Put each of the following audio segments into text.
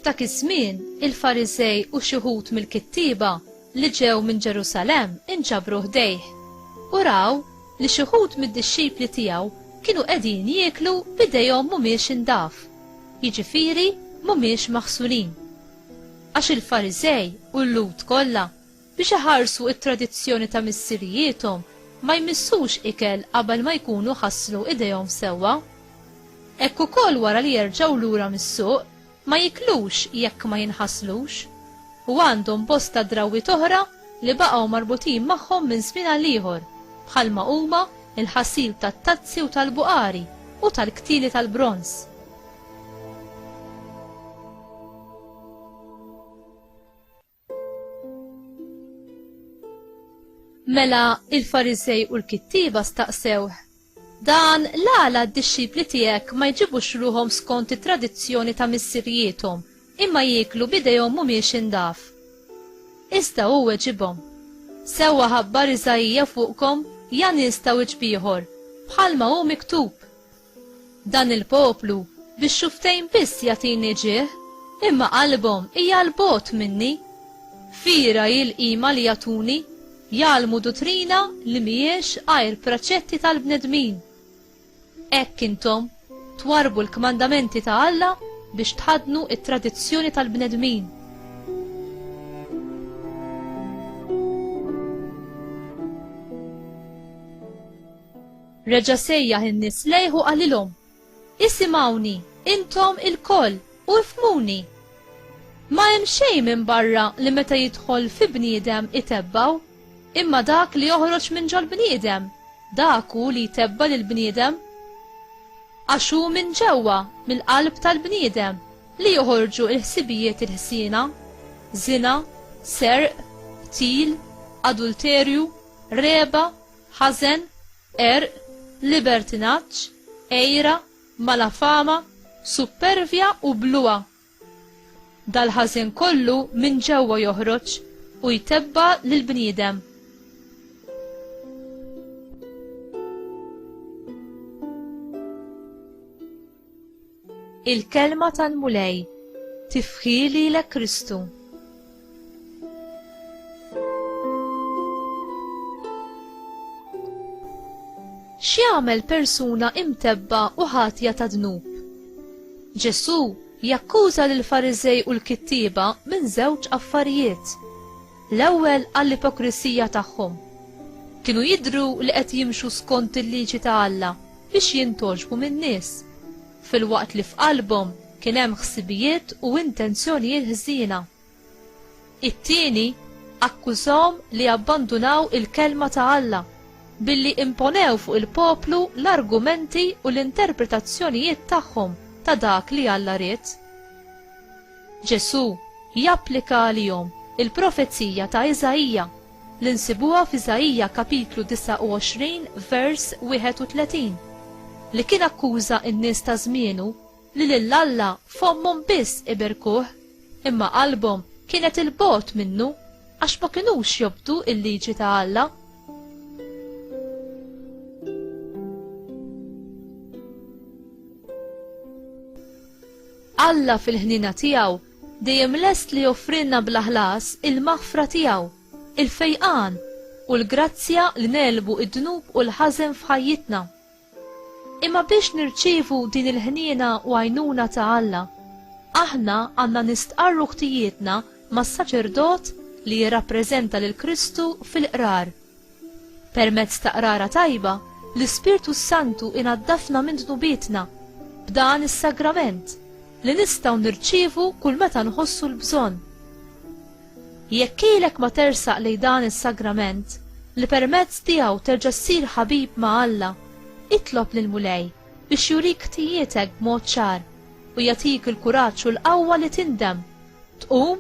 F'dak iż-żmien, il-Fariżej u xi wħud mill-kittieba li ġew minn Ġerusalemm inġabru ħdejh u raw li xi wħud mid-dixxipli tiegħu kienu qegħdin jieklu b'idejhom mhumiex indaf, jiġifieri mhumiex maħsulin. Għax il-Fariżej u l-Lhud kollha, biex iħarsu t-tradizzjoni ta' missirijiethom, ma jmissux ikel qabel ma jkunu ħasslu idejhom sewwa. Hekk ukoll wara li jerġgħu lura mis-suq, ma jiklux jekk ma jinħaslux. U għandhom bosta drawwiet oħra li baqgħu marbutin magħhom minn żmien għal ieħor, bħalma huma l-ħasil tat-tazzi u tal-buqari u tal-ktieli tal-bronż. Mela il-Farisej u l-kittiba staqsew. Dan l-għala d-dixxipli tiegħek ma jġibux ruhom skont it-tradizzjoni ta' missirjietom, imma jieklu bidejhom mhumiex indaf. Iżda hu weġibhom. Sewwa ħabbar Iżaija fuqkom ja nies ta' wiċbieħor, bħalma hu miktub. Dan il-poplu bix-xufftejn biss jagħtini ġieħ, imma qalbhom hija 'l bogħod minni. Fira hi l-qima li jagħtuni, jgħallmu duttrina li m'hijiex għajr preċetti tal-bnedmin. Hekk intom twarrbu l-kmandamenti ta' Alla biex tħaddnu t-tradizzjoni tal-bnedmin. Reġa' sejjaħ in-nies lejh u qalilhom, Isimgħuni, intom ilkoll, u ifhmuni! Ma hemm xejn minn barra li meta jidħol fi bniedem itebbgħu, imma dak li joħroġ minn ġol-bniedem, dak hu li jtebba' lill-bniedem. Għax hu minn ġewwa, mill-qalb tal-bniedem, li joħorġu l-ħsibijiet il-ħsiena, żina, serq, qtil, adulterju, regħba, ħażen, qerq, libertinaġġ, għira, malafama, suppervja u bluha. Dal-ħażen kollu minn ġewwa joħroġ u jtebba' lill-bniedem. Il-kelma tal-Mulej tifħi lilek Kristu. X'jagħmel persuna imtebba u ħatja ta' dnub? Ġesù jakkuża lil Fariżej u l-kittieba minn żewġ affarijiet. L-ewwel għall-ipokrisija tagħhom. Kienu jidru li qed jimxu skont il-liġi ta' Alla biex jintogħġbu min-nies, filwaqt li f'qalbhom kien hemm ħsibijiet u intenzjonijiet ħżiena. It-tieni, akkużahom li abbandunaw il-Kelma ta' Alla billi imponew fuq il-poplu l-argumenti u l-interpretazzjonijiet tagħhom ta' dak li Alla ried. Ġesù japplika għalihom il-profezija ta' Iżaija li nsibuha f'Iżaija kapitlu 29 vers 31, li kien akkuża n-nies ta' żmienu li lil Alla fommhom biss iberkuh imma qalbhom kienet 'il bogħod minnu għax ma kinux jobdu l-liġi ta' Alla. Alla fil-ħnina tiegħu Dejjem lest li joffrilna bla ħlas il-maħfra tiegħu, il-fejqan, u l-grazzja li negħlbu d-dnub u l-ħażen f'ħajjitna. Imma biex nirċievu din il-ħniena u għajnuna ta' Alla, aħna għandna nistqarru ħtijietna mas-saċerdot li jirrappreżenta lil Kristu fil-qrar. Permezz ta' qrara tajba, l-Ispirtu s-Santu inaddafna minn dnubietna b'dan is-sagrament li nistgħu nirċievu kull meta nħossu l-bżonn. Jekk ilek ma tersaq lejn dan is-sagrament li permezz tiegħu terġa' ssir ħabib ma' Alla, itlob lil Mulej biex jurik ħtijietek b'mod ċar u jagħtik il-kuraġġ u l-qawwa li tindem Tqum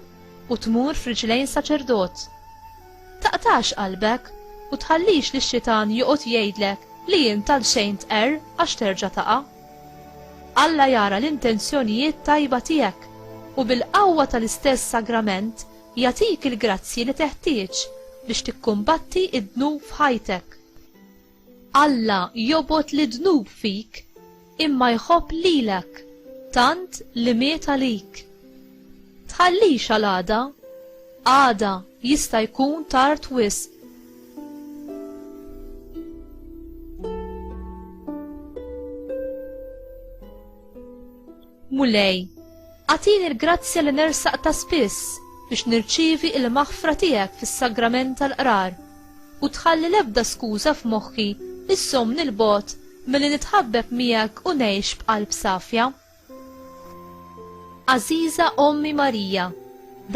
u tmur f'riġlejn saċerdot. Taqtax qalbek u tħallix li x-xitan joqgħod jgħidlek li int għal xejn tqerr għax terġa' taqa'. Alla jara l-intenzjonijiet tajba tiegħek u bil-qawwa tal-istess sagrament jagħtik il-grazzji li teħtieġ biex tikkumbatti d-dnub f'ħajtek. Alla jobgħod lid-dnub fik, imma jħobb lilek, tant li miet għalik. Tħallix għal għada, għada jista' jkun tard wisq. Mulej, agħtini l-grazzja li nersaq ta' spiss biex nirċievi il-maħfra tiegħek fis-sagrament tal-qrar u tħalli l-ebda skuża f'moħħi issomni il-bot milli nitħabbeb miegħek u ngħix b'qalb safja. Aziza Ommi Marija,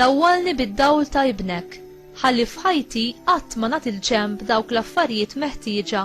dawwalni bid-dawl ta' ibnek, ħalli f'ħajti qatt ma nagħti l-ġenb dawk l-affarijiet meħtieġa